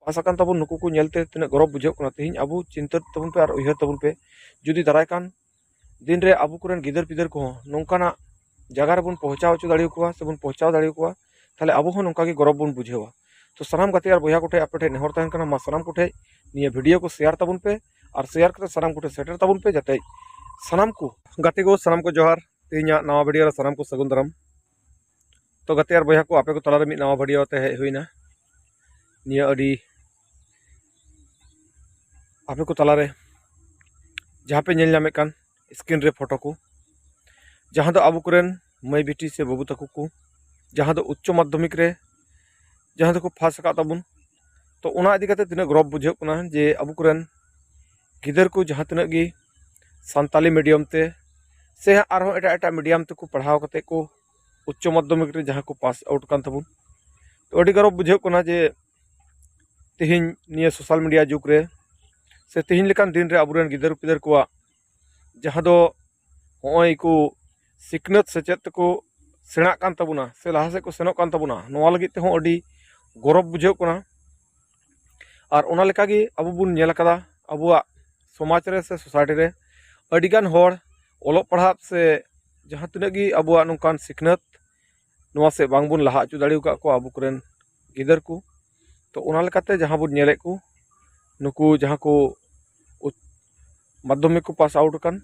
ᱯᱟᱥ ᱟᱠᱟᱱ ᱛᱟᱵᱚᱱ ᱱᱩᱠᱩ ᱠᱚ ᱧᱮᱞᱛᱮ ᱛᱤᱱᱟᱹᱜ ᱜᱚᱨᱚᱵᱽ ᱵᱩᱡᱷᱟᱹᱜ ᱠᱟᱱᱟ ᱛᱮᱦᱮᱧ ᱟᱵᱚ ᱪᱤᱱᱛᱟᱹ ᱛᱟᱵᱚᱱ ᱯᱮ ᱟᱨ ᱩᱭᱦᱟᱹᱨ ᱛᱟᱵᱚᱱ ᱯᱮ ᱡᱩᱫᱤ ᱫᱟᱨᱟᱭ ᱠᱟᱱ ᱫᱤᱱ ᱨᱮ ᱟᱵᱚ ᱠᱚᱨᱮᱱ ᱜᱤᱫᱟᱹᱨ ᱯᱤᱫᱟᱹᱨ ᱠᱚᱦᱚᱸ ᱱᱚᱝᱠᱟᱱᱟᱜ ᱡᱟᱭᱜᱟ ᱨᱮᱵᱚᱱ ᱯᱳᱸᱪᱷᱟᱣ ᱦᱚᱪᱚ ᱫᱟᱲᱮᱭᱟᱠᱚᱣᱟ ᱥᱮᱵᱚᱱ ᱯᱳᱸᱪᱷᱟᱣ ᱫᱟᱲᱮᱭᱟᱠᱚᱣᱟ ᱛᱟᱦᱚᱞᱮ ᱟᱵᱚ ᱦᱚᱸ ᱱᱚᱝᱠᱟ ᱜᱮ ᱜᱚᱨᱚᱵᱽ ᱵᱚᱱ ᱵᱩᱡᱷᱟᱹᱣᱟ ᱛᱚ ᱥᱟᱱᱟᱢ ᱜᱟᱛᱮ ᱟᱨ ᱵᱚᱭᱦᱟ ᱠᱚᱴᱷᱮᱱ ᱟᱯᱮ ᱴᱷᱮᱱ ᱱᱮᱦᱚᱨ ᱛᱟᱦᱮᱱ ᱠᱟᱱᱟ ᱢᱟ ᱥᱟᱱᱟᱢ ᱠᱚᱴᱷᱮᱱ ᱱᱤᱭᱟᱹ ᱵᱷᱤᱰᱤᱭᱳ ᱠᱚ ᱥᱮᱭᱟᱨ ᱛᱟᱵᱚᱱ ᱯᱮ ᱟᱨ ᱥᱮᱭᱟᱨ ᱠᱟᱛᱮ ᱥᱟᱱᱟᱢ ᱠᱚᱴᱷᱮᱱ ᱥᱮᱴᱮᱨ ᱛᱟᱵᱚᱱ ᱯᱮ ᱡᱟᱛᱮ ᱥᱟᱱᱟᱢ ᱠᱚ ᱜᱟᱛᱮ ᱠᱚ ᱥᱟᱱᱟᱢ ᱠᱚ ᱡᱚᱦᱟᱨ ᱛᱮᱦᱮᱧᱟᱜ ᱱᱟᱣᱟ ᱵᱷᱤᱰᱤᱭᱳ ᱨᱮ ᱥᱟᱱᱟᱢ ᱠᱚ ᱥᱟᱹᱜᱩᱱ ᱫᱟᱨᱟᱢ ᱛᱚ ᱜᱟᱛᱮ ᱟᱨ ᱵᱚᱭᱦᱟ ᱠᱚ ᱟᱯᱮ ᱠᱚ ᱛᱟᱞᱟᱨᱮ ᱢᱤᱫ ᱱᱟᱣᱟ ᱵᱷᱤᱰᱤᱭᱳ ᱛᱮ ᱦᱮᱡ ᱦᱩᱭᱱᱟ ᱱᱤᱭᱟᱹ ᱟᱹᱰᱤ ᱟᱯᱮ ᱠᱚ ᱛᱟᱞᱟᱨᱮ ᱡᱟᱦᱟᱸ ᱯᱮ ᱧᱮᱞ ᱧᱟᱢᱮᱫ ᱠᱟᱱ ᱥᱠᱨᱤᱱ ᱨᱮ ᱯᱷᱳᱴᱳ ᱠᱚ ᱡᱟᱦᱟᱸ ᱫᱚ ᱟᱵᱚ ᱠᱚᱨᱮᱱ ᱢᱟᱹᱭ ᱵᱤᱴᱤ ᱥᱮ ᱵᱟᱹᱵᱩ ᱛᱟᱠᱚ ᱠᱚ ᱡᱟᱦᱟᱸ ᱫᱚ ᱩᱪᱪᱚ ᱢᱟᱫᱽᱫᱷᱚᱢᱤᱠ ᱨᱮ ᱡᱟᱦᱟᱸ ᱫᱚᱠᱚ ᱯᱷᱟᱥ ᱟᱠᱟᱫ ᱛᱟᱵᱚᱱ ᱛᱚ ᱚᱱᱟ ᱤᱫᱤ ᱠᱟᱛᱮ ᱛᱤᱱᱟᱹᱜ ᱜᱚᱨᱚᱵᱽ ᱵᱩᱡᱷᱟᱹᱜ ᱠᱟᱱᱟ ᱡᱮ ᱟᱵᱚ ᱠᱚᱨᱮᱱ ᱜᱤᱫᱟᱹᱨ ᱠᱚ ᱡᱟᱦᱟᱸ ᱛᱤᱱᱟᱹᱜ ᱜᱮ ᱥᱟᱱᱛᱟᱞᱤ ᱢᱤᱰᱤᱭᱟᱢ ᱛᱮ ᱥᱮ ᱟᱨᱦᱚᱸ ᱮᱴᱟᱜ ᱮᱴᱟᱜ ᱢᱤᱰᱤᱭᱟᱢ ᱛᱮᱠᱚ ᱯᱟᱲᱦᱟᱣ ᱠᱟᱛᱮ ᱠᱚ ᱩᱪᱪᱚ ᱢᱟᱫᱽᱫᱷᱚᱢᱤᱠ ᱨᱮ ᱡᱟᱦᱟᱸ ᱠᱚ ᱯᱟᱥ ᱟᱣᱩᱴ ᱠᱟᱱ ᱛᱟᱵᱚᱱ ᱛᱚ ᱟᱹᱰᱤ ᱜᱚᱨᱚᱵᱽ ᱵᱩᱡᱷᱟᱹᱜ ᱠᱟᱱᱟ ᱡᱮ ᱛᱮᱦᱮᱧ ᱱᱤᱭᱟᱹ ᱥᱳᱥᱟᱞ ᱢᱤᱰᱤᱭᱟ ᱡᱩᱜᱽ ᱨᱮ ᱥᱮ ᱛᱮᱦᱮᱧ ᱞᱮᱠᱟᱱ ᱫᱤᱱ ᱨᱮ ᱟᱵᱚ ᱨᱮᱱ ᱜᱤᱫᱟᱹᱨ ᱯᱤᱫᱟᱹᱨ ᱠᱚᱣᱟᱜ ᱡᱟᱦᱟᱸ ᱫᱚ ᱦᱚᱸᱜᱼᱚᱭ ᱠᱚ ᱥᱤᱠᱷᱱᱟᱹᱛ ᱥᱮᱪᱮᱫ ᱛᱮᱠᱚ ᱥᱮᱬᱟᱜ ᱠᱟᱱ ᱛᱟᱵᱚᱱᱟ ᱥᱮ ᱞᱟᱦᱟ ᱥᱮᱫ ᱠᱚ ᱥᱮᱱᱚᱜ ᱠᱟᱱ ᱛᱟᱵᱚᱱᱟ ᱱᱚᱣᱟ ᱞᱟᱹᱜᱤᱫ ᱛᱮᱦᱚᱸ ᱟᱹᱰᱤ ᱜᱚᱨᱚᱵᱽ ᱵᱩᱡᱷᱟᱹᱜ ᱠᱟᱱᱟ ᱟᱨ ᱚᱱᱟ ᱞᱮᱠᱟ ᱜᱮ ᱟᱵᱚ ᱵᱚᱱ ᱧᱮᱞ ᱠᱟᱫᱟ ᱟᱵᱚᱣᱟᱜ ᱥᱚᱢᱟᱡᱽ ᱨᱮ ᱥᱮ ᱥᱳᱥᱟᱭᱴᱤ ᱨᱮ ᱟᱹᱰᱤ ᱜᱟᱱ ᱦᱚᱲ ᱚᱞᱚᱜ ᱯᱟᱲᱦᱟᱜ ᱥᱮ ᱡᱟᱦᱟᱸ ᱛᱤᱱᱟᱹᱜ ᱜᱮ ᱟᱵᱚᱣᱟᱜ ᱱᱚᱝᱠᱟᱱ ᱥᱤᱠᱷᱱᱟᱹᱛ ᱱᱚᱣᱟ ᱥᱮᱫ ᱵᱟᱝ ᱵᱚᱱ ᱞᱟᱦᱟ ᱦᱚᱪᱚ ᱫᱟᱲᱮ ᱠᱟᱜ ᱠᱚᱣᱟ ᱟᱵᱚ ᱠᱚᱨᱮᱱ ᱜᱤᱫᱟᱹᱨ ᱠᱚ ᱛᱚ ᱚᱱᱟ ᱞᱮᱠᱟᱛᱮ ᱡᱟᱦᱟᱸ ᱵᱚᱱ ᱧᱮᱞᱮᱫ ᱠᱚ ᱱᱩᱠᱩ ᱡᱟᱦᱟᱸ ᱠᱚ ᱢᱟᱫᱽᱫᱷᱚᱢᱤᱠ ᱠᱚ ᱯᱟᱥ ᱟᱣᱩᱴ ᱟᱠᱟᱱ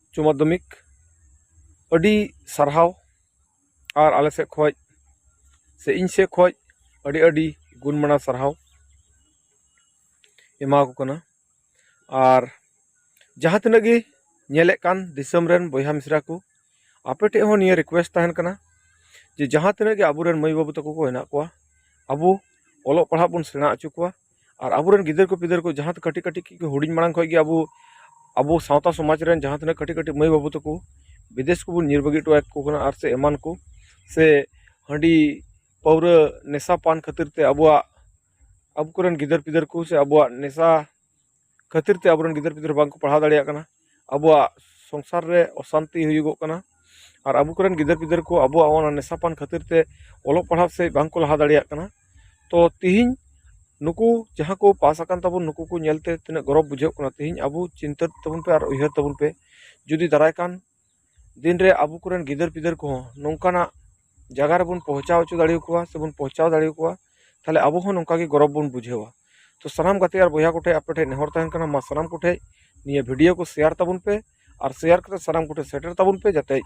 ᱩᱪᱪᱚ ᱢᱟᱫᱽᱫᱷᱚᱢᱤᱠ ᱟᱹᱰᱤ ᱥᱟᱨᱦᱟᱣ ᱟᱨ ᱟᱞᱮ ᱥᱮᱫ ᱠᱷᱚᱱ ᱥᱮ ᱤᱧ ᱥᱮᱫ ᱠᱷᱚᱱ ᱟᱹᱰᱤ ᱟᱹᱰᱤ ᱜᱩᱱ ᱢᱟᱱᱟᱣ ᱥᱟᱨᱦᱟᱣ ᱮᱢᱟᱣᱟᱠᱚ ᱠᱟᱱᱟ ᱟᱨ ᱡᱟᱦᱟᱸ ᱛᱤᱱᱟᱹᱜ ᱜᱮ ᱧᱮᱞᱮᱫ ᱠᱟᱱ ᱫᱤᱥᱚᱢ ᱨᱮᱱ ᱵᱚᱭᱦᱟ ᱢᱤᱥᱨᱟ ᱠᱚ ᱟᱯᱮ ᱴᱷᱮᱱ ᱦᱚᱸ ᱱᱤᱭᱟᱹ ᱨᱤᱠᱩᱭᱮᱥᱴ ᱛᱟᱦᱮᱱ ᱠᱟᱱᱟ ᱡᱮ ᱡᱟᱦᱟᱸ ᱛᱤᱱᱟᱹᱜ ᱜᱮ ᱟᱵᱚ ᱨᱮᱱ ᱢᱟᱹᱭ ᱵᱟᱹᱵᱩ ᱛᱟᱠᱚ ᱠᱚ ᱦᱮᱱᱟᱜ ᱠᱚᱣᱟ ᱟᱵᱚ ᱚᱞᱚᱜ ᱯᱟᱲᱦᱟᱜ ᱵᱚᱱ ᱥᱮᱬᱟ ᱦᱚᱪᱚ ᱠᱚᱣᱟ ᱟᱨ ᱟᱵᱚᱨᱮᱱ ᱜᱤᱫᱟᱹᱨ ᱠᱚ ᱯᱤᱫᱟᱹᱨ ᱠᱚ ᱡᱟᱦᱟᱸ ᱠᱟᱹᱴᱤᱡ ᱠᱟᱹᱴᱤᱡ ᱠᱷᱚᱱ ᱜᱮ ᱦᱩᱰᱤᱧ ᱢᱟᱲᱟᱝ ᱠᱷᱚᱱ ᱜᱮ ᱟᱵᱚ ᱟᱵᱚ ᱥᱟᱶᱛᱟ ᱥᱚᱢᱟᱡᱽ ᱨᱮᱱ ᱡᱟᱦᱟᱸ ᱛᱤᱱᱟᱹᱜ ᱠᱟᱹᱴᱤᱡ ᱠᱟᱹᱴᱤᱡ ᱢᱟᱹᱭ ᱵᱟᱹᱵᱩ ᱛᱟᱠᱚ ᱵᱤᱫᱮᱥ ᱠᱚᱵᱚᱱ ᱧᱤᱨ ᱵᱟᱹᱜᱤ ᱦᱚᱴᱚ ᱟᱠᱚ ᱠᱟᱱᱟ ᱟᱨ ᱥᱮ ᱮᱢᱟᱱ ᱠᱚ ᱥᱮ ᱦᱟᱺᱰᱤ ᱯᱟᱹᱣᱨᱟᱹ ᱱᱮᱥᱟ ᱯᱟᱱ ᱠᱷᱟᱹᱛᱤᱨ ᱛᱮ ᱟᱵᱚᱣᱟᱜ ᱟᱵᱚ ᱠᱚᱨᱮᱱ ᱜᱤᱫᱟᱹᱨ ᱯᱤᱫᱟᱹᱨ ᱠᱚ ᱥᱮ ᱟᱵᱚᱣᱟᱜ ᱱᱮᱥᱟ ᱠᱷᱟᱹᱛᱤᱨ ᱛᱮ ᱟᱵᱚ ᱨᱮᱱ ᱜᱤᱫᱟᱹᱨ ᱯᱤᱫᱟᱹᱨ ᱵᱟᱝ ᱠᱚ ᱯᱟᱲᱦᱟᱣ ᱫᱟᱲᱮᱭᱟᱜ ᱠᱟᱱᱟ ᱟᱵᱚᱣᱟᱜ ᱥᱚᱝᱥᱟᱨ ᱨᱮ ᱚᱥᱟᱱᱛᱤ ᱦᱩᱭᱩᱜᱚᱜ ᱠᱟᱱᱟ ᱟᱨ ᱟᱵᱚ ᱠᱚᱨᱮᱱ ᱜᱤᱫᱟᱹᱨ ᱯᱤᱫᱟᱹᱨ ᱠᱚ ᱟᱵᱚᱣᱟᱜ ᱚᱱᱟ ᱱᱮᱥᱟ ᱯᱟᱱ ᱠᱷᱟᱹᱛᱤᱨ ᱛᱮ ᱚᱞᱚᱜ ᱯᱟᱲᱦᱟᱣ ᱥᱮᱡ ᱵᱟᱝ ᱠᱚ ᱞᱟᱦᱟ ᱫᱟᱲᱮᱭᱟᱜ ᱠᱟᱱᱟ ᱛᱚ ᱛᱤᱦᱤᱧ ᱱᱩᱠᱩ ᱡᱟᱦᱟᱸ ᱠᱚ ᱯᱟᱥ ᱟᱠᱟᱱ ᱛᱟᱵᱚᱱ ᱱᱩᱠᱩ ᱠᱚ ᱧᱮᱞᱛᱮ ᱛᱤᱱᱟᱹᱜ ᱜᱚᱨᱚᱵᱽ ᱵᱩᱡᱷᱟᱹᱜ ᱠᱟᱱᱟ ᱛᱤᱦᱤᱧ ᱟᱵᱚ ᱪᱤᱱᱛᱟᱹ ᱛᱟᱵᱚᱱ ᱯᱮ ᱟᱨ ᱩᱭᱦᱟᱹᱨ ᱛᱟᱵᱚᱱ ᱯᱮ ᱡᱩᱫᱤ ᱫᱟᱨᱟᱭ ᱠᱟᱱ ᱫᱤᱱ ᱨᱮ ᱟᱵᱚ ᱠᱚᱨᱮᱱ ᱜᱤᱫᱟᱹᱨ ᱯᱤᱫᱟᱹᱨ ᱠᱚᱦᱚᱸ ᱱᱚᱝᱠᱟᱱᱟᱜ ᱡᱟᱭᱜᱟ ᱨᱮᱵᱚᱱ ᱯᱳᱣᱪᱷᱟᱣ ᱦᱚᱪᱚ ᱫᱟᱲᱮ ᱟᱠᱚᱣᱟ ᱥᱮ ᱵᱚᱱ ᱯᱳᱣᱪᱷᱟᱣ ᱫᱟᱲᱮ ᱟᱠᱚᱣᱟ ᱛᱟᱦᱚᱞᱮ ᱟᱵᱚ ᱦᱚᱸ ᱱᱚᱝᱠᱟ ᱜᱮ ᱜᱚᱨᱚᱵᱽ ᱵᱚᱱ ᱵᱩᱡᱷᱟᱹᱣᱟ ᱛᱚ ᱥᱟᱱᱟᱢ ᱜᱟᱛᱮ ᱟᱨ ᱵᱚᱭᱦᱟ ᱠᱚᱴᱷᱮᱱ ᱟᱯᱮ ᱴᱷᱮᱱ ᱱᱮᱦᱚᱨ ᱛᱟᱦᱮᱱ ᱠᱟᱱᱟ ᱢᱟ ᱥᱟᱱᱟᱢ ᱠᱚᱴᱷᱮᱱ ᱱᱤᱭᱟᱹ ᱵᱷᱤᱰᱭᱳ ᱠᱚ ᱥᱮᱭᱟᱨ ᱛᱟᱵᱚᱱ ᱯᱮ ᱟᱨ ᱥᱮᱭᱟᱨ ᱠᱟᱛᱮᱫ ᱥᱟᱱᱟᱢ ᱠᱚᱴᱷᱮᱱ ᱥᱮᱴᱮᱨ ᱛᱟᱵᱚᱱ ᱯᱮ ᱡᱟᱛᱮ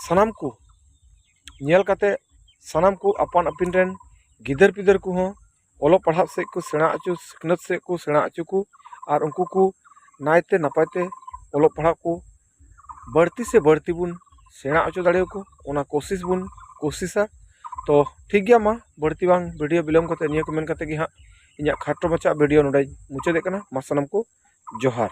ᱥᱟᱱᱟᱢ ᱠᱚ ᱧᱮᱞ ᱠᱟᱛᱮᱫ ᱥᱟᱱᱟᱢ ᱠᱚ ᱟᱯᱟᱱ ᱟᱹᱯᱤᱱ ᱨᱮᱱ ᱜᱤᱫᱟᱹᱨ ᱯᱤᱫᱟᱹᱨ ᱠᱚᱦᱚᱸ ᱚᱞᱚᱜ ᱯᱟᱲᱦᱟᱜ ᱥᱮᱫ ᱠᱚ ᱥᱮᱬᱟ ᱦᱚᱪᱚ ᱥᱤᱠᱷᱱᱟᱹᱛ ᱥᱮᱫ ᱠᱚ ᱥᱮᱬᱟ ᱦᱚᱪᱚ ᱠᱚ ᱟᱨ ᱩᱱᱠᱩ ᱠᱚ ᱱᱟᱭ ᱛᱮ ᱱᱟᱯᱟᱭ ᱛᱮ ᱚᱞᱚᱜ ᱯᱟᱲᱦᱟᱜ ᱠᱚ ᱵᱟᱹᱲᱛᱤ ᱥᱮ ᱵᱟᱹᱲᱛᱤ ᱵᱚᱱ ᱥᱮᱬᱟ ᱦᱚᱪᱚ ᱫᱟᱲᱮᱭᱟᱠᱚ ᱚᱱᱟ ᱠᱳᱥᱤᱥ ᱵᱚᱱ ᱠᱳᱥᱤᱥᱟ ᱛᱚ ᱴᱷᱤᱠ ᱜᱮᱭᱟ ᱢᱟ ᱵᱟᱹᱲᱛᱤ ᱵᱟᱝ ᱵᱷᱤᱰᱤᱭᱳ ᱵᱤᱞᱚᱢ ᱠᱟᱛᱮ ᱱᱤᱭᱟᱹ ᱠᱚ ᱢᱮᱱ ᱠᱟᱛᱮ ᱜᱮ ᱦᱟᱸᱜ ᱤᱧᱟᱹᱜ ᱠᱷᱟᱴᱚ ᱢᱟᱪᱷᱟ ᱵᱷᱤᱰᱤᱭᱳ ᱱᱚᱰᱮᱧ ᱢᱩᱪᱟᱹᱫᱮᱜ ᱠᱟᱱᱟ ᱢᱟ ᱥᱟᱱᱟᱢ ᱠᱚ ᱡᱚᱦᱟᱨ